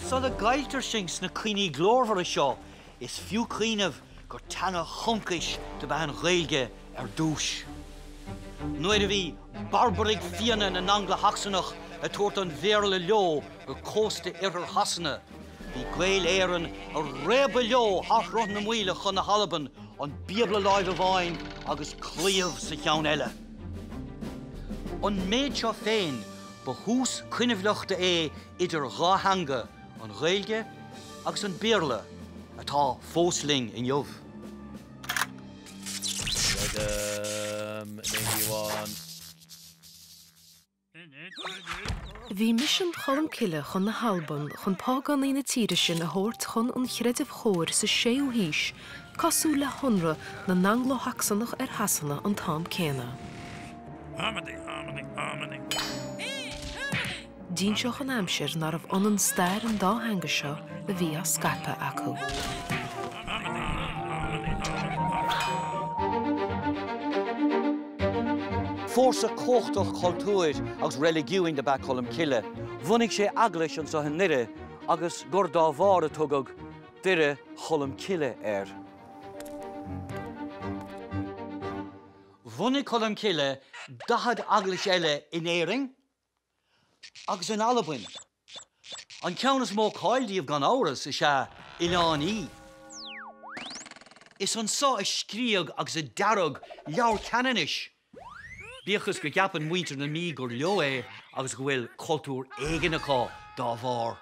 Sula gcailltear sinn sna cuimhní glórmhara seo, is fiú cuimhneamh gur teanga choncais dob ea an Ghaeilge ar dtús. Nuair a bhí barbaraigh fiaine na nAngla-Shacsanach ag tabhairt an Bhéarla leo go cósta iarthar Shasana, bhí Gaeil Éireann ag réabadh leo thar Shruth na Maoile chun na hAlban, an Bíobla i láimh amháin agus claíomh sa cheann eile. An méid seo féin, ba thús coinbhleachta é idir dhá theanga, an Ghaeilge agus an Béarla, atá fós linn inniu. Bhí misean Cholmcille chun na hAlban chun págánaigh na tíre sin a thabhairt chun an chreidimh chóir sa 6ú haois, cosúil le hionradh na nAnglo-Shacsanach ar Shasana an t-am céanna. D'inseodh an aimsir nárbh ionann stair an dá theanga seo a bhí á scaipeadh acu. Fórsa cumhachtach cultúir agus reiligiúin dob ea Colm Cille. Bhunaigh sé eaglais anseo i nDoire agus gur dá bharr a tugadh Doire Cholm Cille air. Bhunaigh Colm Cille 40 eaglais eile in Éirinn. agus in Albain. An ceann is mó cáil díobh gan amhras is ea Oileán Í. Is anseo a scríodh agus a dearadh Leabhar Ceannanais, bíodh is go gceapann muintir na Mí gur leo é agus go bhfuil cultúr éigin acu dá bharr.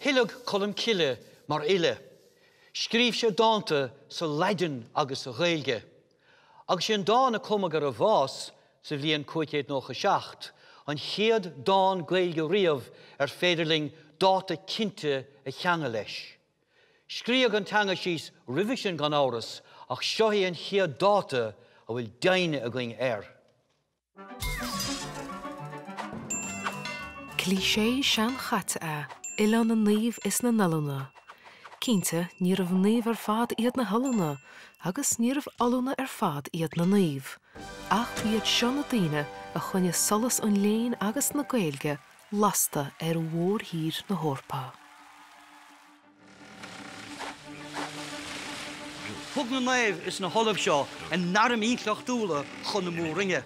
Oileadh Colm Cille mar fhile, scríobh sé dánta sa Laidin agus sa Ghaeilge. Agus is é an dán a cumadh ar a bhás sa bhliain 597, an chéad dán Gaeilge riamh ar féidir linn dáta cinnte a cheangal leis. Scríodh an teanga síos roimhe sin gan amhras ach seo é an chéad dáta a bhfuil deimhne againn air. Cliché seanchaite is ea Oileán na Naomh is na nOllúna. Cinnte, níorbh naoimh ar fad iad na hollúna agus níorbh ollúna ar fad iad na naoimh. Ach ba iad seo na daoine a choinnigh solas an léinn agus na Gaeilge lasta ar mhórthír na hEorpa. Thug na naoimh is na hollaimh seo a n-airm intleachtúla chun na mór-roinne.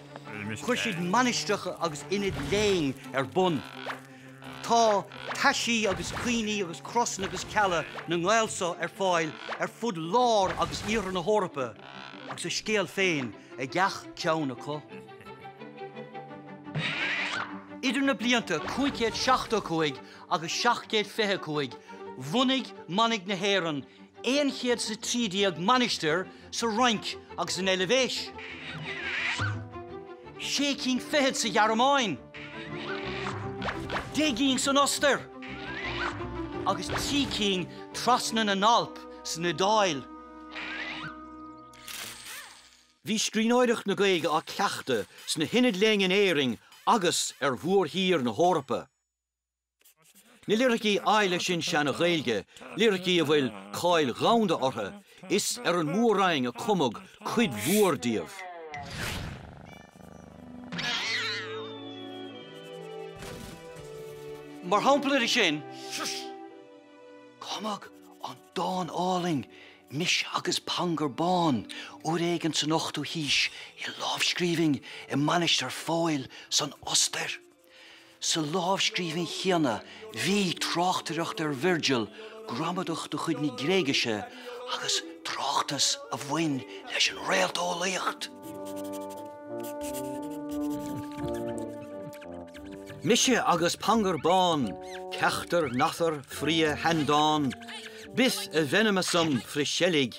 Chuir siad mainistreacha agus ionaid léinn ar bun. Tá taisí agus cuimhní agus crosanna agus cealla na nGael seo ar fáil ar fud lár agus iarthar na hEorpa agus a scéal féin ag gach ceann acu. Idir na blianta 575 agus 725 bhunaigh manaigh na hÉireann aon chéad is a trí déag mainistir sa Fhrainc agus an Eilvéis, sé cinn fichead sa Ghearmáin, deich gcinn san Ostair agus trí cinn trasna na nAlp san Iodáil. Bhí scríbhneoireacht na Gaeilge á cleachtadh sna hionaid léinn in Éirinn agus ar mhórthír na hEorpa. Na liricí áille sin Seana-Ghaeilge, liricí a bhfuil cáil dhomhanda orthu, is ar an Mór-Roinn a cumadh cuid mhór díobh. Mar shampla de sin, cumadh an dán álainn Mise agus Pangur Bán uair éigin san ochtú haois i lámhscríbhinn i Mainistir Phóil san Ostair. Sa lámhscríbhinn chéanna bhí tráchtaireacht ar Virgil, gramadach de chuid na Gréigise, agus tráchtas a bhain leis an réalteolaíocht. Mise agus Pangur Bán, ceachtar nathar fria shaindán, bíth a mhenma-sam fri seilgg